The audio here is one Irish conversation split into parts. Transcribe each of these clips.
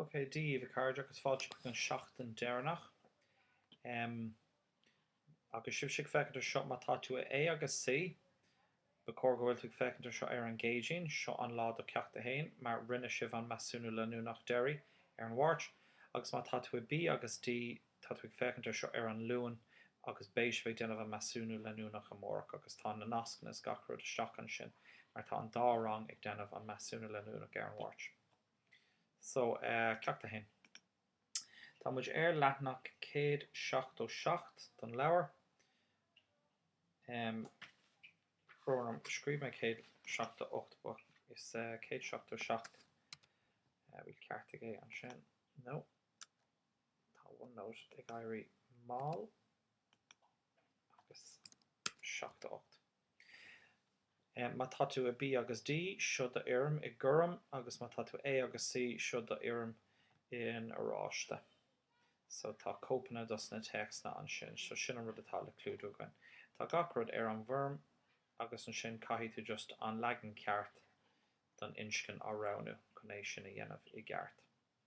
Ok, Dia daoibh a chairde agus fáilte chuig an seachtain deireanach. Em, agus sibhse ag féachaint ar seo, má tá tú i A agus C, ba chóir go bhfuil tú ag féachaint ar seo ar an gCéadaoin, seo an lá do cheacht a haon, mar rinne sibh an measúnú leanúnach deiridh ar an Mháirt, agus má tá tú i B agus D, Tá tú ag féachaint ar seo ar an Luan agus beidh sibh ag déanamh an measúnú leanúnach amárach agus tá na nascanna is gach rud isteach ansin mar tá an dá rang ag déanamh an measúnú leanúnach ar an Mháirt. So eh Ceacht 1. Tá muid ar leathnach céad seachtó seacht don leabhar. Em brón orm scríobh mé céad seachtó ocht ach is eh céad seachtó seacht eh bhfuil ceartaigh é ansin? No. Tá OneNote ag éirí mall agus 78. Má tá tú i B agus D, seo do fhoirm i gorm agus má tá tú A agus C, seo do fhoirm in oráiste. So tá cóipeanna dos na téacsanna ansin. So sin an rud atá le clúdú againn. Tá gach rud ar an bhfoirm agus ansin caithfidh tú just an leagan ceart den inscne a roghnú chun é sin a dhéanamh i gceart.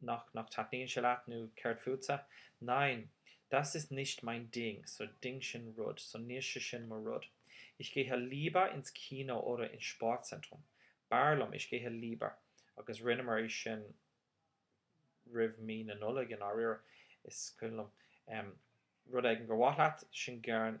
Nach nach taitníonn sé leat nó céard fútsa? Nein, das ist nicht mein Ding, so Ding sin rud, so níl sé sin mo rud. Ich gehe lieber ins Kino oder ins Sportzentrum. B'fhearr liom Ich gehe lieber Agus rinneamar é sin roimh mí na Nollag, i ndáiríre. Is cuimhin liom. Rud éigin gur mhaith leat, sin gern.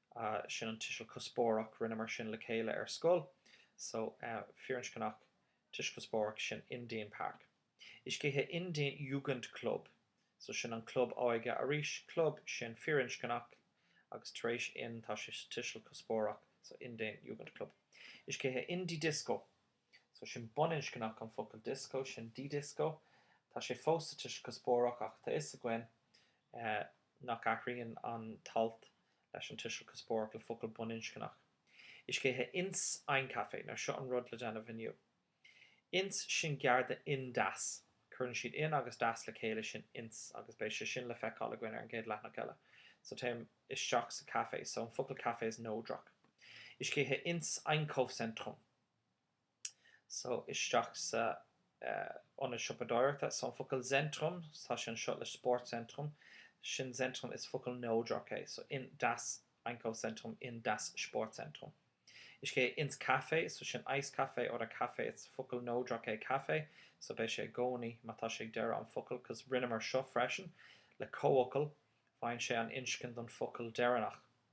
Sin an tuiseal cuspóireach. Rinneamar sin le chéile ar scoil. So, firinscneach, tuiseal cuspóireach, sin in den Park. Ich gehe in den Jugendclub. So, sin an club óige arís. Club, sin firinscneach, agus tar éis in tá sé sa tuiseal cuspóireach. So, in den Jugendclub. Ich gehe in die Disco. So sin baininscneach an focal Disco, sin die Disco. Tá sé fós sa tuiseal cuspóireach ach tá 'fhios againn nach athraíonn an t-alt leis an tuiseal cuspóireach le focal baininscneach. Ich gehe ins ein Café. Now seo an rud le déanamh inniu. Ins, sin gearr do in das. Cuireann siad in agus das le chéile, sin ins, agus beidh sé sin le feiceáil againn ar an gcéad leathnach eile. So téim isteach sa café. So an focal café is neodrach. Ich gehe ins Einkaufszentrum. so isteach sa ionad siopadóireachta. so an focal Zentrum, tá sé anseo le Sportzentrum, sin Zentrum is focal neodrach é, so in das Einkaufszentrum, in das Sportzentrum. Ich gehe ins Café, so sin Eiscafé oder Café is focal neodrach é café, so beidh sé i gcónaí má tá sé ag deireadh an focail, 'cos rinneamar seo freisin le comhfhocal, faigheann sé an inscne don focal deireanach.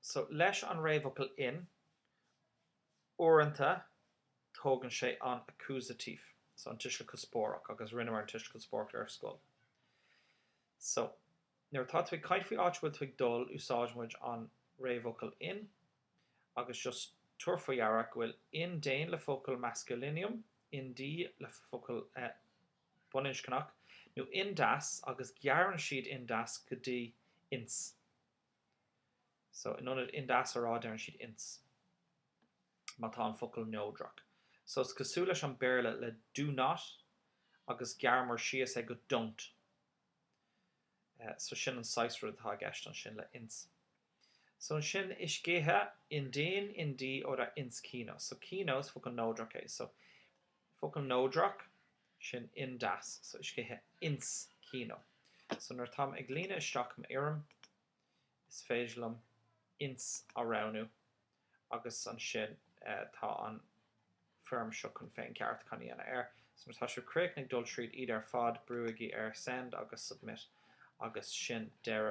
So, leis an réamhfhocal in, uaireanta tógann sé an accusative, so an tuiseal cuspóireach, agus rinneamar an tuiseal cuspóireach ar scoil. So, nuair atá tú ag caint faoi áit a bhfuil tú ag dul, úsáideann muid an réamhfhocal in, agus just tabhair faoi deara go bhfuil in den le focal Maskulinum, in die le focal baininscneach, nó in das, agus gearrann siad in das go dtí ins. So, in ionad in das a rá, deireann siad ins, má tá an focal neodrach. So, is cosúil leis an Béarla le do not agus gearraimid síos é go don't. So, sin an saghas rud atá i gceist ansin le ins. So, ansin, ich gehe in den, in die oder ins Kino. So, Kino, is focal neodrach é. So, focal neodrach. sin in das so ich gehe ins Kino so nuair atáim ag líonadh isteach m'fhoirm is féidir liom ins a roghnú agus ansin tá an foirm seo chun féincheartú a dhéanamh air so nuair atá sibh críochnaithe ag dul tríd iad ar fad brúigí ar send agus submit agus sin deireadh